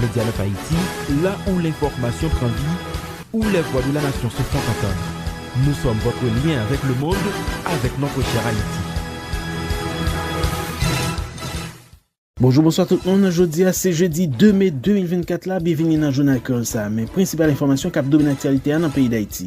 Medianeuf Haïti, la ou l'information pran vi, ou les voix de la nation se font entendre. Nous sommes votre lien avec le monde, avec notre chère Haïti. Bonjou bonswa tout moun, jodi a se jedi 2 me 2024 la, byenvini nan jounal kreyòl sa a men prensipal enfòmasyon k ap domine aktyalite a nan peyi Dayiti.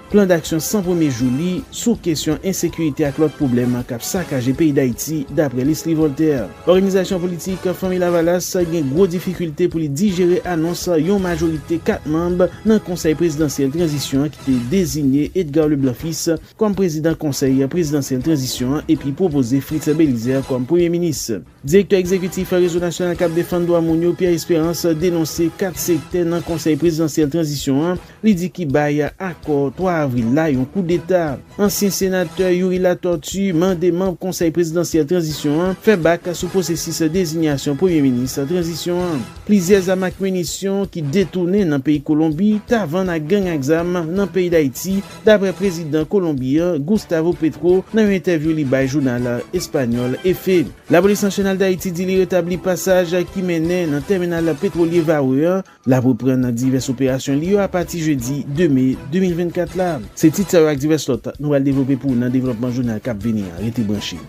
Plan daksyon 100 premye jou li sou kesyon ensekirite ak lòt pwoblèm k ap sakaje peyi Dayiti, daprè Leslie Voltaire. Òganizasyon politik Fanmi Lavalas gen gwo difikilte pou li dijere anons yon majorite 4 manb nan Konsèy Prezidansyèl Tranzisyon an ki te dezinye Edgar Leblanc Fils kòm prezidan Konsèy Prezidansyèl Tranzisyon an epi pwopoze Fritz Belizaire kòm Premye Minis. Direktè egzekitif Rezo Nasyonal k ap Defann Dwa Moun yo, Pierre Espérance, denonse 4 sektè nan Konsèy Prezidansyèl Tranzisyon an li di ki bay akò 3 avril la yon koudeta. Ansyen senatè Youri Latortue mande manb Konsèy Prezidansyèl Tranzisyon an fè bak sou pwosesis dezinyasyon Premye Minis Tranzisyon an. Plizyè zam ak minisyon ki detounen nan peyi Kolonbi ta vann ak gang ak zam nan peyi Dayiti, dapre prezidan Kolonbi an, Gustavo Petro, nan yon entèvyou li bay jounal espanyòl Efe. Lapolis Nasyonal Dayiti di li retabli pasaj ki mennen nan tèminal petwolye Varreux an. L ap reprann divès operasyon li yo apati jedi 2 me 2024 la. Se tit sa yo ak divès lòt nou pral devlope pou ou nan devlòpman jounal k ap vini an. Rete branche.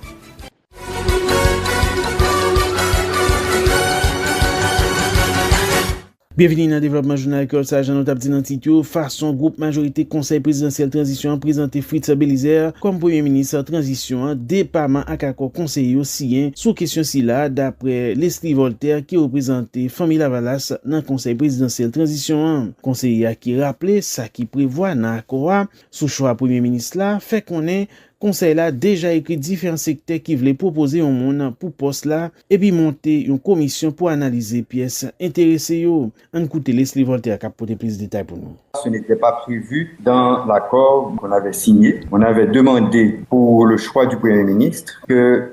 Byenvini nan devlòpman jounal Kreyòl sa a jan nou tap di nan tit yo fason gwoup majorite konsèy prezidansyèl tranzisyon an prezante Fritz Belizaire kòm premye minis tranzisyon an depaman ak akò konseye yo siyen sou kesyon sila a daprè Leslie Voltaire ki reprezante Fanmi Lavalas nan konsèy prezidansyèl tranzisyon an konseye a ki raple sa ki prevwa nan akò a sou chwa premye minis la fè konnen Konsèy la deja ekri diferan sektè ki vle pwopoze yon moun pou pòs la epi monte yon komisyon pou analize pyès enterese yo. Ann koute Lesly Voltaire k ap pote plis detay pou nou. Ce n'était pas prévu dans l'accord qu'on avait signé. On avait demandé pour le choix du Premier ministre que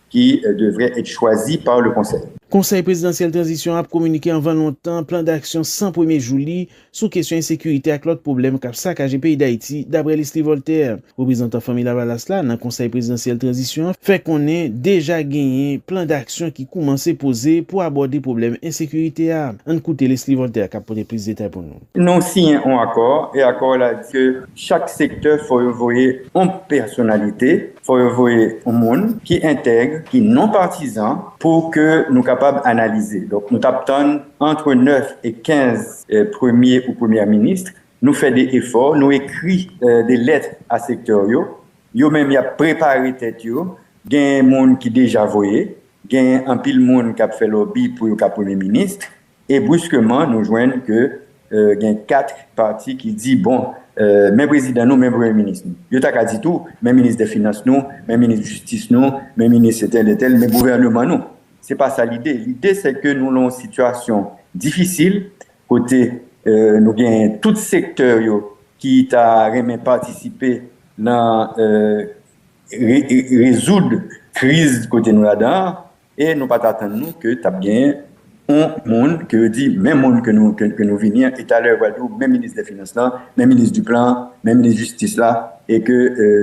ki devrait être choisi par le Conseil. Konsèy Prezidansyèl Tranzisyon an ap kominike anvan lontan plan daksyon 100 premye jou li sou kesyon ensekirite ak lòt pwoblèm k ap sakaje peyi Dayiti, daprè Leslie Voltaire. Reprezantan Fanmi Lavalas la nan Konsèy Prezidansyèl Tranzisyon an fè konnen deja genyen plan daksyon ki koumanse poze pou abòde pwoblèm ensekirite a. Ann koute Leslie Voltaire k ap pote plis detay pou nou. Nou siyen on akò e akò la di ke chak sektè fò yo voye on pèsonalite, fò yo voye on moun ki entèg, ki non patizan pou ke nou kapab analize. Donk nou tap tann antre 9 e 15 premye ou premyè minis, nou fè de efò, nou ekri de lèt a sektè yo, yo menm yap prepare tèt yo, gen moun ki deja voye, gen anpil moun kap fè lòbi pou yo ka premye minis, E bruskeman nou jwenn ke gen 4 pati ki di bon men prezidan nou, men premye minis nou. Yo ta ka di tou men minis dè finans nou, men minis jistis nou, men minis etèl etèl, men gouvèneman nou. Se pa sa lide. Lide se ke nou lan yon sitiyasyon difisil kote nou gen tout sektè yo ki ta renmen patisipe lan rezoud kriz kote nou ladan an. E nou pa t atann nou ke t ap genyen yon moun ke yo di menm moun ke nou ke nou vini an e talè yo pral di w menm minis dè finans lan, menm minis du plan an, menm minis jistis la e ke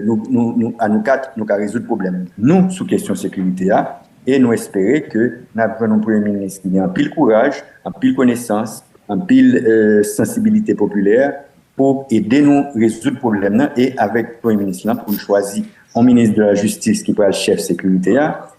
nou nou a nou kat nou ka rezoud pwoblèm nou sou kesyon sekirite a e nou espere ke n ap jwenn yon premye minis ki gen anpil kouraj, anpil konesans, anpil sansibilite popilè pou ede nou rezoud pwoblèm nan e avèk premye minis lan pou nou chwazi yon minis de la jistis ki pral chèf sekirite a.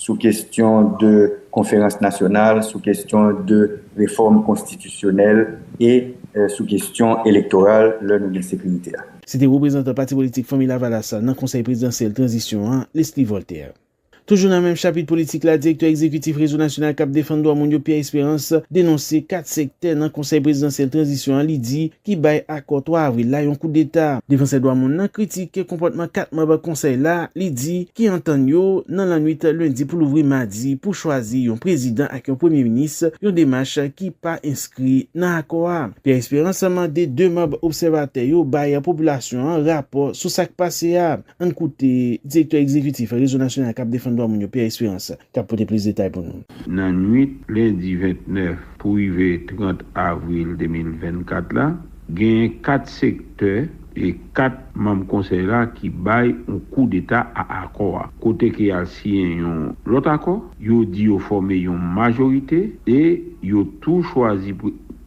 sou kestyon de konferans nasyonal, sou kestyon de refòm konstitisyonèl e sou kestyon elektoral lè nou gen sekirite a. Se te reprezantan pati politik Fanmi Lavalas la nan Konsèy Prezidansyèl Tranzisyon an, Leslie Voltaire. Toujou nan menm chapit politik la, direktè egzekitif Rezo Nasyonal k ap Defann Dwa Moun yo, Pierre Espérance, denonse 4 sektè nan Konsèy Prezidansyèl Tranzisyon an li di, ki bay akò 3 avril la yon koudeta. Defansè dwa moun nan kritike konpòtman 4 manb konsèy la, li di, ki antann yo nan lannwit lendi pou louvri madi pou chwazi yon prezidan ak yon premye minis, yon demach ki pa enskri nan akò a. Pierre Espérance mande 2 manb obsèvatè yo bay popilasyon an rapò sou sak pase a. Ann koute direktè egzekitif Rezo Nasyonal kap Defann Dwa Moun yo Pierre Espérance. k ap pote plis detay pou nou. Nan nwit lendi 29 pou rive 30 avril 2024 la, genyen 4 sektè e 4 manm konsèy la ki bay yon kou deta a akò a, kote ke y al siyen yon lòt akò, yo di yo fòme yon majorite e yo tou chwazi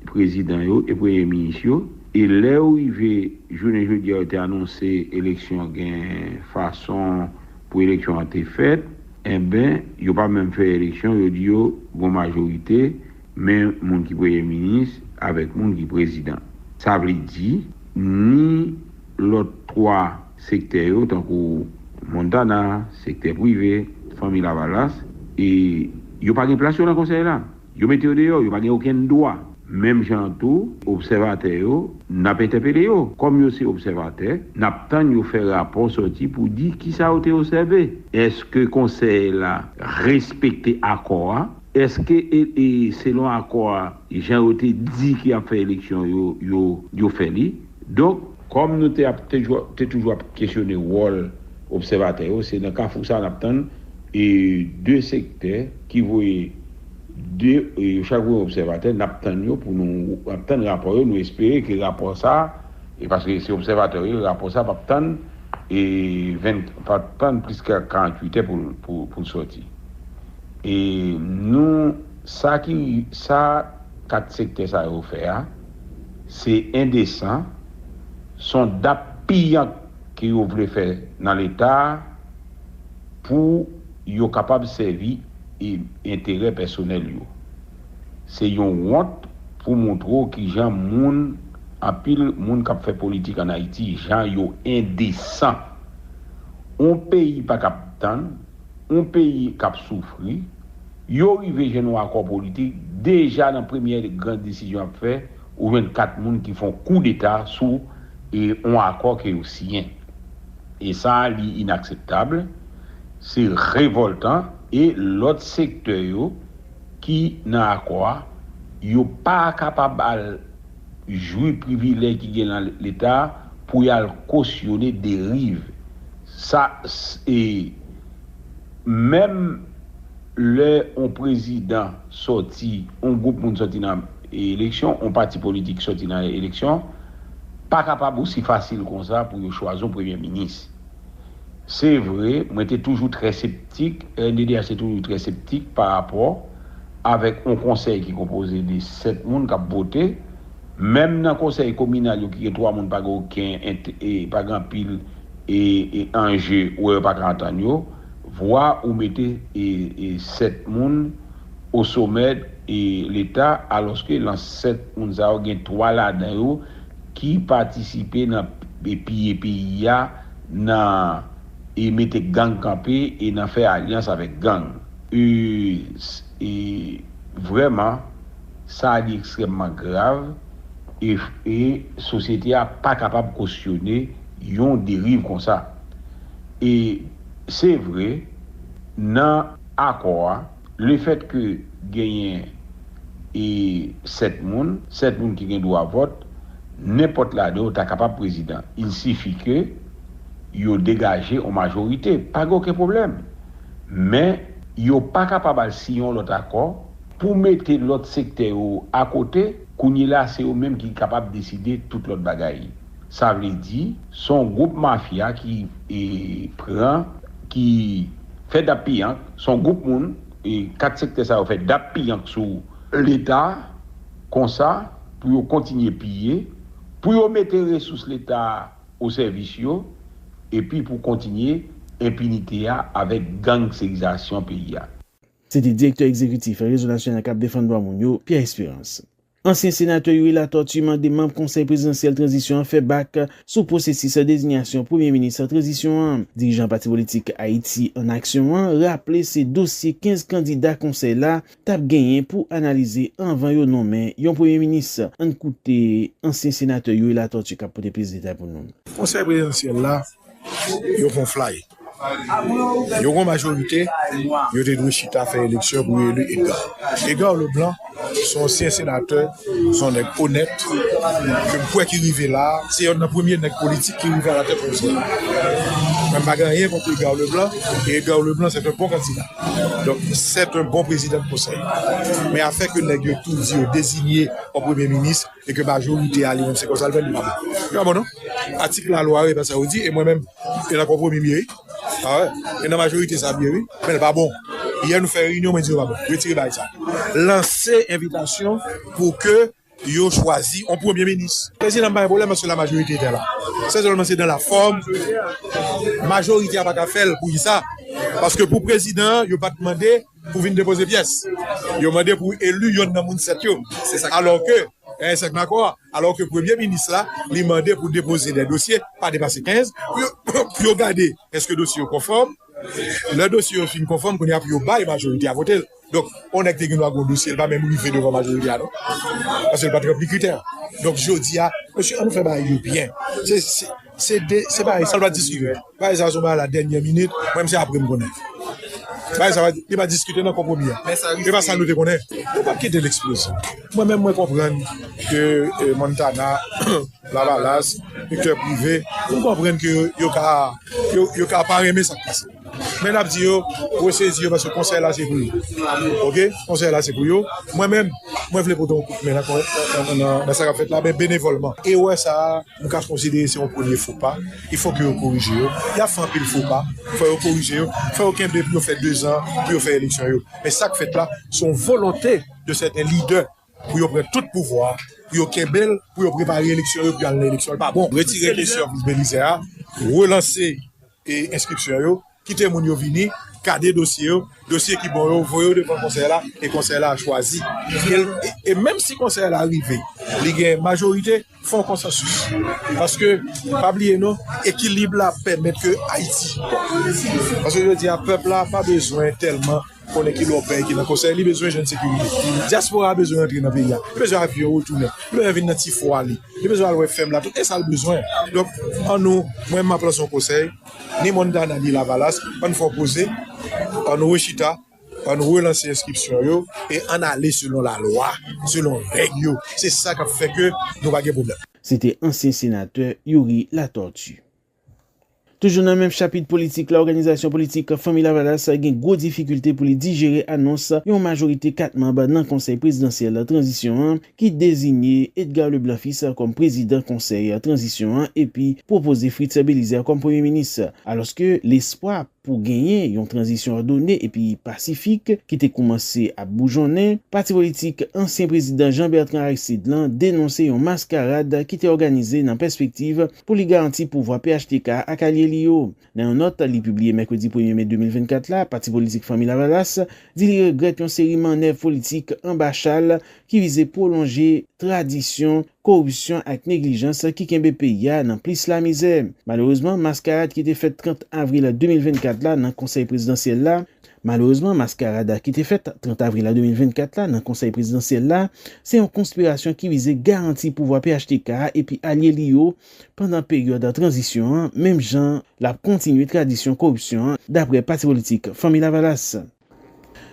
prezidan yo e premye minis yo, e lè yo rive jounen jodi a yo te anonse eleksyon gen fason pou eleksyon an te fèt, Enben, yo pa menm fè eleksyon, yo di yo gon majorite, men moun ki premye minis avèk moun ki prezidan. Sa vle di, ni lòt twa sektè yo, tankou Montana, sektè prive, Fanmi Lavalas, e yo pa gen plas yo nan konsèy la. Yo mete yo deyò, yo pa gen okenn dwa. Menm jan an tou, obsèvatè yo, n ap entèpele yo. Kòm yo se obsèvatè, n ap tann yo fè rapò sòti pou di ki sa yo te osève. Èske Konsèy la respekte akò a? Èske, selon akò a, jan yo te di ki ap fè eleksyon yo, yo fè li? Donk, kòm nou te ap te toujou ap kesyone wòl obsèvatè yo, se nan kafou sa a n ap tann e de sektè ki voye de, yo chak voye yon obsèvatè, n ap tann yo pou nou, n ap tann rapò yo, nou espere ke rapò sa a, e paske se obsèvatè yo ye, rapò sa a p ap tann e 20, p ap tann plis ke 48 è pou l sòti. E nou, sa ki, sa 4 sektè sa yo fè a, se endesan, son dap piyank ke yo vle fè nan leta pou yo kapab sèvi enterè pèsonèl yo. Se yon wont pou montre w kijan moun, anpil moun kap fè politik an Ayiti jan yo endesan. On peyi pakab tann. yon peyi k ap soufri, yo rive jwenn yon akò politik, deja nan premyè gran desizyon y ap fè, ou jwenn 4 moun ki fè yon koudeta sou yon akò ke yo siyen. E sa a li inakseptab, se revòltan e lòt sektè yo ki nan akò a, yo pa kapab al. jwi privilè ki gen lan leta pou yal kosyone deriv sa e menm lè on prezidan sòti on gwoup moun sòti nan eleksyon on pati politik sòti nan eleksyon pa kapab osi fasil konsa pou yo chwazi on premye minis. Se vre, mwen te toujou trè septik, RNDDH te toujou trè septik pa rapò avèk yon konsèy ki konpoze de 7 moun k ap vote. Menm nan konsèy kominal yo ki gen 3 moun pa gen oken pa gen anpil anje wè yo pa ka antann yo. Vwa ou mete 7 moun osomè leta alòske lan 7 moun sa yo gen 3 ladan yo ki patisipe nan piye peyi a, nan e mete gang kanpe e nan fè alyans avèk gang. E vrèman, sa a li ekstrèmman grav e sosyete a pa kapab kosyone yon deriv konsa. E se vre, nan akò a. Le fèt ke genyen e 7 moun, 7 moun ki gen dwa vòt, nenpòt ladan yo ta kapab prezidan. Il sifi ke yo degaje yon majorite. Pa gen oken pwoblèm. Men, yo pa kapab al siyen yon lòt akò pou mete lòt sektè yo akote. Kounyela se yo menm ki kapab deside tout lòt bagay. Sa vle di, s on gwoup mafya ki pran, ki fè dap-piyank, s on gwoup moun, kat sektè sa yo fè dap-piyank sou Leta konsa pou yo kontinye piye, pou yo mete resous Leta o sèvis yo, epi pou kontinye enpinite a avèk gangsterizasyon peyi a. Se te direktè egzekitif Rezo Nasyonal k ap defann dwa moun yo, Pierre Espérance. Ansyen senatè Youri Latortue mande manb konsèy prezidansyèl tranzisyon an fè bak sou pwosesis dezinyasyon premye minis tranzisyon an. Dirijan pati politik Ayiti an Aksyon an raple se dosye 15 kandida konsèy la tap genyen pou analize anvan yo nonmen yon premye minis. Ann koute ansyen senatè Youri Latortue kap pote plis detay pou nou. Konsèy prezidansyèl la yo fon flay. Yon gwo majorite yo te dwe chita fè eleksyon pou yo eli Edgar. Edgar Leblanc se yon ansyen senatè, se yon nèg onèt ke m kwè ki rive la a. Se yonn nan premye nèg politik ki rive alatèt yon peyi. Mwen m pa gen anyen kont Edgar Leblanc e Edgar Leblanc se te yon bon kandida. Donk, se te yon bon prezidan konsèy. Men afè ke nèg yo tou di yo dezinye yon premye minis, E ke majorite a li menm se konsa l fè li pa bon. Li pa bon non. Atik la lwa e pa sa yo di e mwen menm e nan konpwomi m ye wi. A wè. E nan majorite sa m ye wi. Men l pa bon. Yè nou fè reyinyon mwen di yo pa bon. Retire bagay sa. Lanse envitasyon pou ke yo chwazi yon premye minis. Prezidan m pa gen pwoblèm paske la majorite etè la. Se sèlman se dan la fòm majorite a pa ka fè l. Pou ki sa? Paske pou prezidan an yo pa t mande. pou vin depoze pyès yo mande pou eli yonn nan moun 7 yo alò ke eh sèk makò a alò ke premye minis la li mande pou depoze de dosye pa depase 15 pou yo gade eske dosye yo konfòm lè dosye yo fin konfòm kounye a pou yo bay majorite a vote l donk yon nèg te gen dwa gen yon dosye l pa menm rive devan majorite a non paske l pa t ranpli kritè donk jodi a mesye an nou fè bagay yo byen se Se de se bagay sa pa diskite bagay sa son bagay la dènyè minit mwen menm se apre m konnen bagay sa yo pa diskite nan konpwomi a se pa sa nou te konnen nou pap kite l eksploze mwen menm mwen konprann ke montana lavalas sektè prive m konprann ke yo ka yo ka pa renmen sa k pase men n ap di yo resezi yo paske konsèy la se pou yo ok konsèy la se pou yo mwen menm mwen vle pote yon kout men nan sa k ap fèt la men benevòlman erè sa a. Nou ka konsidere se yon premye fo pa, il fo ke yo korije yo, ya fè anpil fo pa, fò yo korije yo, fò yo kenbe pou yo fè 2 zan pou yo fè eleksyon yo. Men sak fèt la, se yon volonte de sèten lidè pou yo pran tout pouvwa a, pou yo kenbe l, pou yo prepare eleksyon yo pou yo al nan eleksyon. L pa bon. Retire kesyon Bélizaire a, relanse. Enskripsyon yo, kite moun yo vini, gade dosye yo, dosye ki bon yo, voye yo devan konsèy la, e konsèy la chwazi. E menm si konsèy la rive, li gen majorite, fè yon konsansis. Paske, pa bliye non, ekilib la pèmèt ke Ayiti bon. Paske jodi a, pèp la pa bezwen tèlman. konnen ki lò pèy ki nan konsèy li bezwen jwenn sekirite dyaspora a bezwen rantre nan peyi a li bezwen avyon retounen li bezwen vin nan ti fwa li li bezwen al wè fèm la tout esal bezwen donk an nou mwen map lanse yon konsèy ni Montana ni lavalas ann fè yon poze ann rechita ann relanse enskripsyon yo e ann ale selon la lwa selon règ yo se sa kap fè ke nou pa gen pwoblèm. Se te ansyen senatè Youri Latortue. Toujou nan menm chapit politik la, òganizasyon politik Fanmi Lavalas gen gwo difikilte pou li dijere anons yon majorite 4 manb nan Konsèy Prezidansyèl Tranzisyon an ki dezinye Edgar Leblanc Fils kòm prezidan Konsèy Tranzisyon an epi pwopoze Fritz Belizaire kòm Premye Minis. Alòske lespwa. Pou genyen yon tranzisyon òdone epi pasifik ki te koumanse ap boujonnen, pati politik ansyen prezidan Jean Bertrand Aristide lan denonse yon maskarad ki te òganize nan pèspektiv pou li garanti pouvwa phtk ak alye li yo. Nan yon nòt li pibliye mèkredi premye me 2024 la, pati politik Fanmi Lavalas di li regrèt yon seri mannèv politik anba chal ki vize pwolonje tradisyon koripsyon ak neglijans ki kenbe peyi a nan plis lamizè. Malerezman, maskarad ki te fèt 30 avril 2024 la nan Konsèy Prezidansyèl la, Malerezman, maskarad ki te fèt 30 avril 2024 la nan Konsèy Prezidansyèl la, se yon konspirasyon ki vize garanti pouvwa phtk a epi alye li yo pandan peryòd tranzisyon an, menm jan l ap kontinye tradisyon koripsyon an, daprè pati politik Fanmi Lavalas.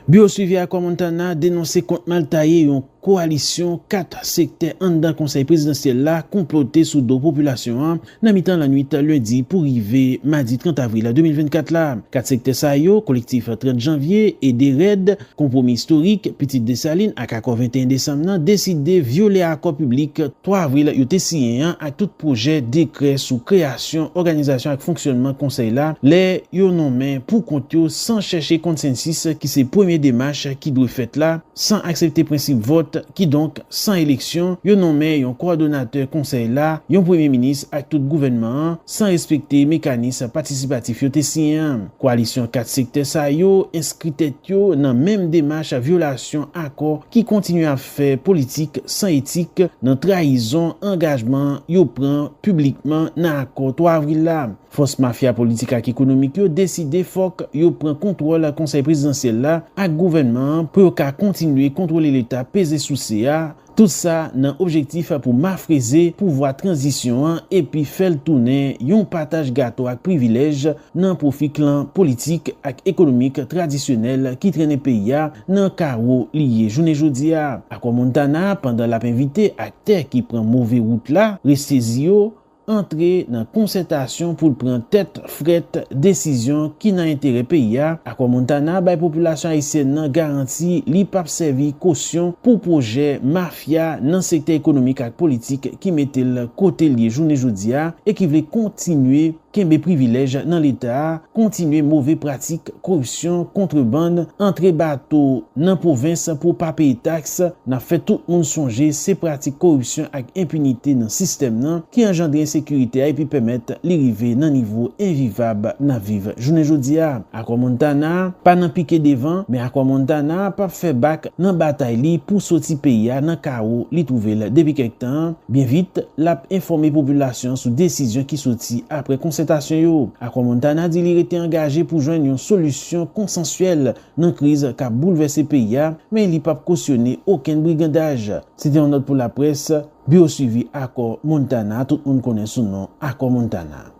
Biwo Suivi Akò Montana denonse kont mal taye yon kowalisyon 4 sektè anndan konsèy prezidansyèl la konplote sou do popilasyon an nan mitan lannwit lendi pou rive madi 30 avril 2024 la. 4 sektè sa yo, Kolektif 30 Janvye, Ede Rèd, Konpwomi Istorik, Pitit Desalin ak Akò 21 Desanm nan deside vyole akò piblik 3 avril yo te siyen an ak tout pwojè dekrè sou kreyasyon syon, òganizasyon ak fonksyònman Konsèy la lè yo nonmen pou kont yo san chèche konsensis ki se premye demach ki dwe fèt la, san aksepte prensip vòt, kidonk san eleksyon, yo nonmen yon kowòdonatè Konsèy la, yon Premye Minis ak tout gouvènman an, san respekte mekanis patisipatif yo te siyen an. Koalisyon 4 sektè sa yo enskri tèt yo nan menm demach vyolasyon akò ki kontinye ap. fè politik san etik nan trayizon angajman yo pran piblikman nan akò 3 avril la. Fòs mafya politik ak ekonomik yo deside fòk yo pran kontwòl konsèy prezidansyèl la ak gouvènman an pou yo ka kontinye kontwole leta peze souse a, tout sa nan objektif pou mafreze pouvwa tranzisyon an epi fè l tounen yon pataj gato ak privilèj nan pwofi klan politik ak ekonomik tradisyonèl ki trennen peyi a nan kawo li ye jounen jodi a. Akò Montana, pandan l ap envite aktè ki pran move wout la, resezi yo, antre nan konsètasyon pou l pran tèt frèt desizyon ki nan enterè peyi a, Akò Montana bay popilasyon ayisyèn nan garanti li p ap sèvi kosyon pou pwojè mafya nan sektè ekonomik ak politik ki mete l kote l ye jounen jodi a e ki vle kontinye kenbe privilèj nan leta, kontinye move pratik koripsyon, kontrebann, antre bato nan pwovens pou pa peye taks, n ap fè tout moun sonje se pratik koripsyon ak enpinite nan sistèm nan ki anjandre ensekirite a epi pèmèt li rive nan nivo envivab n ap viv jounen jodi a. Akò Montana pa nan pike devan, men Akò Montana p ap fè bak nan batay li pou soti peyi a nan kawo li twouve l depi kèk tan an, Byen vit, l ap enfòme popilasyon an sou desizyon ki soti apre konsètasyon yo. Akò Montana di li rete angaje pou jwenn yon solisyon konsansyèl nan kriz k ap boulvèse peyi a, men li p ap kosyone okenn brigandaj. Se te yon nòt pou laprès, biwo suivi Akò Montana, tout moun konnen sou non Akò Montana.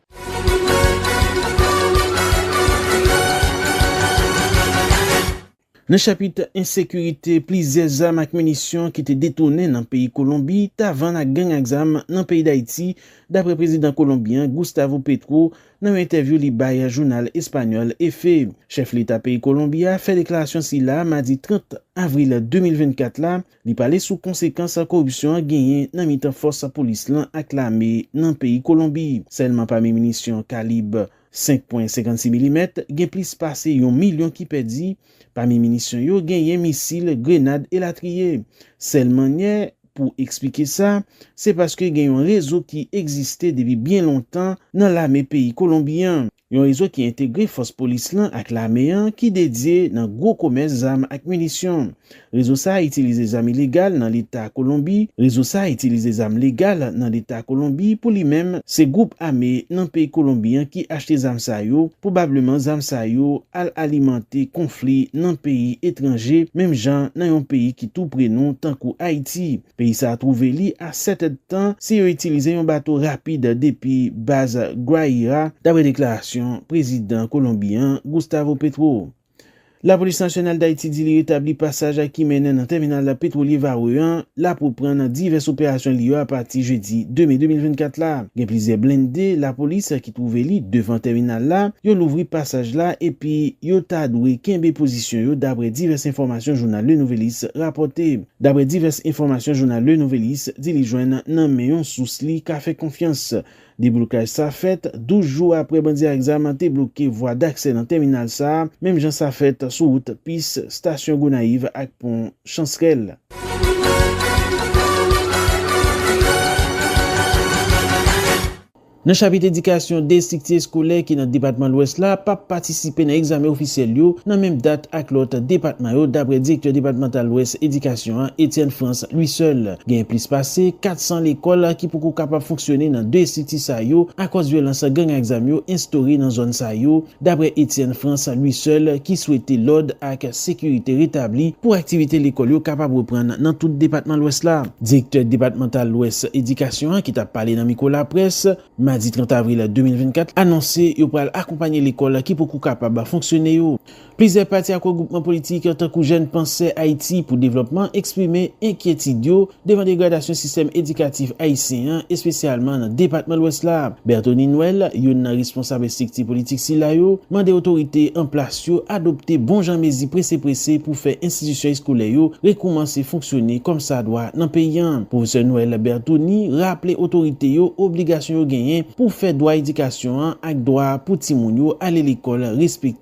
Nan chapit ensekirite, plizyè zam ak minisyon ki te detounen nan peyi Kolonbi ta vann ak gang ak zam nan peyi Dayiti, dapre prezidan Kolonbyen an, Gustavo Petro, nan yon entèvyou li bay jounal espanyòl Efe. Chèf leta peyi Kolonbi a fè deklarasyon sila a madi 30 avril 2024 la, li pale sou konsekans koripsyon an genyen nan mitan fòs polis lan ak lame nan peyi Kolonbi. Sèlman pami minisyon kalib 100 5 pwen 56 milimèt, gen plis pase yon milyon ki pèdi, pami minisyon yo genyen misil, grenad elatriye. Sèl mannyè pou eksplike sa, se paske gen yon rezo ki egziste depi byen lontan nan lame peyi Kolonbi an, yon rezo ki entegre fòs polis lan ak lame an ki dedye nan gwo komès zam ak minisyon. Rezo sa a itilize zam ilegal nan leta Kolonbi Rezo sa a itilize zam legal nan leta Kolonbi pou li menm se gwoup ame nan peyi Kolonbi an ki achte zam sa yo pwobableman zam sa yo al alimante konfli nan peyi etranje menm jan nan yon peyi ki tou pre nou tankou Ayiti peyi sa a twouve li a 7 èd tan si yo itilize yon bato rapid depi baz Guaira daprè deklarasyon prezidan Kolonbi an Gustavo Petro. Lapolis Nasyonal Dayiti di li retabli pasaj a ki mennen nan tèminal petwolye Varreux an l ap reprann nan divès operasyon li yo apati jedi 2 me 2024 la. Gen plizyè blende lapolis ki twouve li devan tèminal la, yo louvri pasaj la epi yo ta dwe kenbe pozisyon yo daprè divès enfòmasyon jounal Le Nouvelliste rapòte. Daprè divès enfòmasyon jounal Le Nouvelliste di li jwenn nan men yon sous li ka fè konfyans, Deblokaj sa fèt 12 jou aprè bandi ak zam te bloke vwa daksè nan tèminal sa, menm jan sa fèt sou wout Pis, Stasyon Gonayiv ak Pon Chansrèl. Nan chapit edikasyon, 2 estrikti eskolè ki nan depatman Lwès la pap patisipe nan egzamen ofisyèl yo nan menm dat ak lòt depatman yo, daprè direktè depatmantal Lwès edikasyon an, Etienne Frantz Louisseul. Gen plis pase 400 lekòl ki poko kapab fonksyone nan 2 estrikti sa yo akòz vyolans gang ak zam yo enstore nan zòn sa yo, daprè Etienne Frantz Louisseul ki swete lòd ak sekirite retabli pou aktivite lekòl yo kapab reprann nan tout depatman Lwès la. Direktè depatmantal Lwès edikasyon an ki t ap pale nan mikwo laprès, madi 30 avril 2024, anonse yo pral akonpanye lekòl ki poko kapab fonksyone yo. Plizyè pati ak regwoupman politik, tankou Jèn Pansè Ayiti pou Devlòpman, eksprime enkyetid yo devan degradasyon sistèm edikatif ayisyen an, espesyalman nan depatman Lwès la. Berthony Noël, youn nan responsab estrikti politik sila yo, mande otorite an plas yo adopte bon jan mezi prese prese pou fè enstitisyon eskolè yo rekoumanse fonksyone kòm sa dwa nan peyi an. Pwofesè Noël Berthony raple otorite yo obligasyon yo genyen pou fè dwa edikasyon an ak dwa pou timoun yo ale lekòl respekte.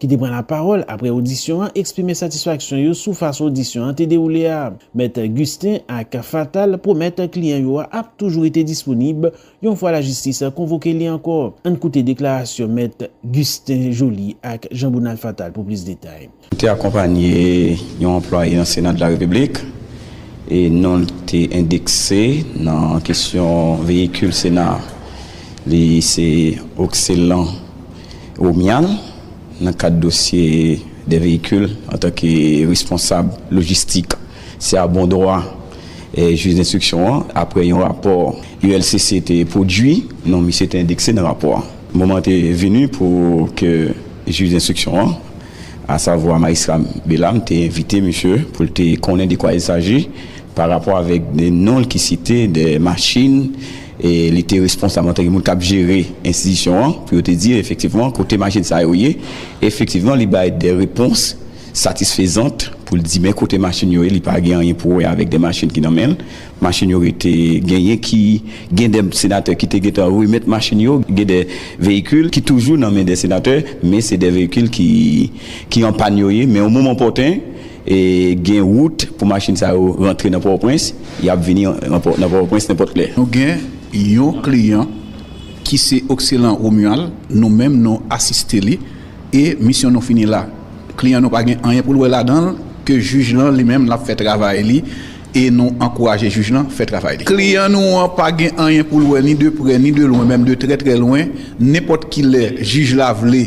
ki te pran lapawòl apre odisyon an eksprime satisfaksyon yo sou fason odisyon an te dewoule a. Mèt Gustin ak Fatal pwomèt kliyan yo a ap toujou rete disponib yon fwa lajistis konvoke li ankò. Ann koute deklarasyon mèt Gustin Joly ak Jean Bonald Fatal pou plis detay. Li te akonpanye yon anplwaye nan Sena de la Repiblik e non l te endekse nan kesyon veyikil Sena a. Li se Occelan. Romial, nan kad dosye dè veyikil, antanke responsab lojistik, se a bon dwa jij denstriksyon an, apre yon rapò ULCC te pwodui, non misye te endekse nan rapò a. Moman an te vini pou ke jij denstriksyon an, asavwa majistra Bellam, te envite misye pou l te konnen de kwa il saji, pa rapò avèk non l ki site dè machin Li te responsab antan ke moun kap jere enstitisyon an pou yo te di efektivman kote machin sa yo ye. Efektivman li bay de repons satisfezant pou l di men kote machin yo ye, li pa gen anyen pou wè avèk de machin ki nan men l. Machin yo rete, genyen ki, gen de senatè ki te gentan remèt machin yo, gen de veyikil ki toujou nan men de senatè men se de veyikil ki an pàn yo ye men o moman opòten, Gen wout pou machin sa yo rantre nan Pòtoprens, y ap vini nan Pòtoprens nenpòt lè. Nou gen yon kliyan ki se Occelan Romuald, nou menm nou asiste li e misyon nou fini la. Kliyan nou pa gen anyen pou l wè ladan l ke jij lan li menm l ap fè travay li e nou ankouraje jij lan fè travay li. Kliyan nou an pa gen anyen pou l wè ni de prè ni de lwen, menm de trè trè lwen, nenpòt ki lè jij la vle,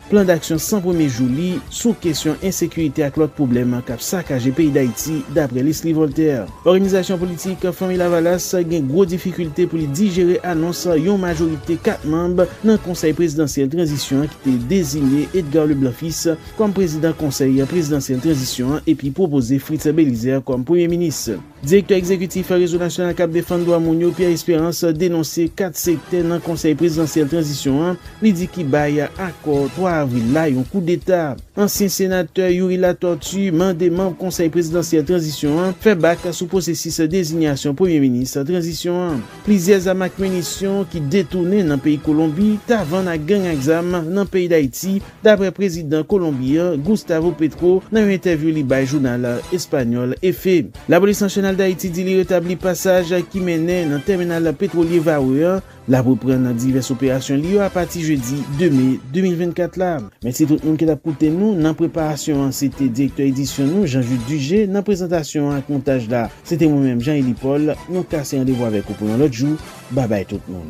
Plan daksyon 100 premye jou li sou kesyon ensekirite ak lòt pwoblèm k ap sakaje peyi Dayiti, dapre Leslie Voltaire. Òganizasyon politik Fanmi Lavalas gen gwo difikilte pou li dijere anons yon majorite 4 manb nan Konsèy prezidansyèl tranzisyon ki te dezinye Edgar Leblanc Fils kòm prezidan Konsèy prezidansyèl tranzisyon an epi pwopoze Fritz Belizaire kòm premye minis. Direktè egzekitif Rezo Nasyonal kap Defann Dwa Moun yo, Pierre Espérance, denonse 4 sektè nan Konsèy Prezidansyèl Tranzisyon an li di ki bay akò 3 avril la yon koudeta. Ansyen senatè Youri Latortue mande manb Konsèy Prezidansyèl Tranzisyon an fè bak sou pwosesis dezinyasyon Premye Minis Tranzisyon an. Plizyè zam ak minisyon ki detounen nan peyi Kolonbi ta vann ak gang ak zam nan peyi Dayiti dapre prezidan Kolonbi an, Gustavo Petro, nan yon entèvyou li bay jounal espanyòl Efe. Lapolis Nasyonal Dayiti di li retabli pasaj ki mennen nan tèminal petwolye Varreux an. L ap reprann divès operasyon li yo apati jedi 2 me 2024 la. Mèsi tout moun ki t ap koute nou nan preparasyon an, se te direktè edisyon nou Jean Jude Dugé, nan prezantasyon an ak montaj la, se te mwen menm Jean Élie Paul, nou kase randevou avèk ou pou yon lòt jou, babay tout moun.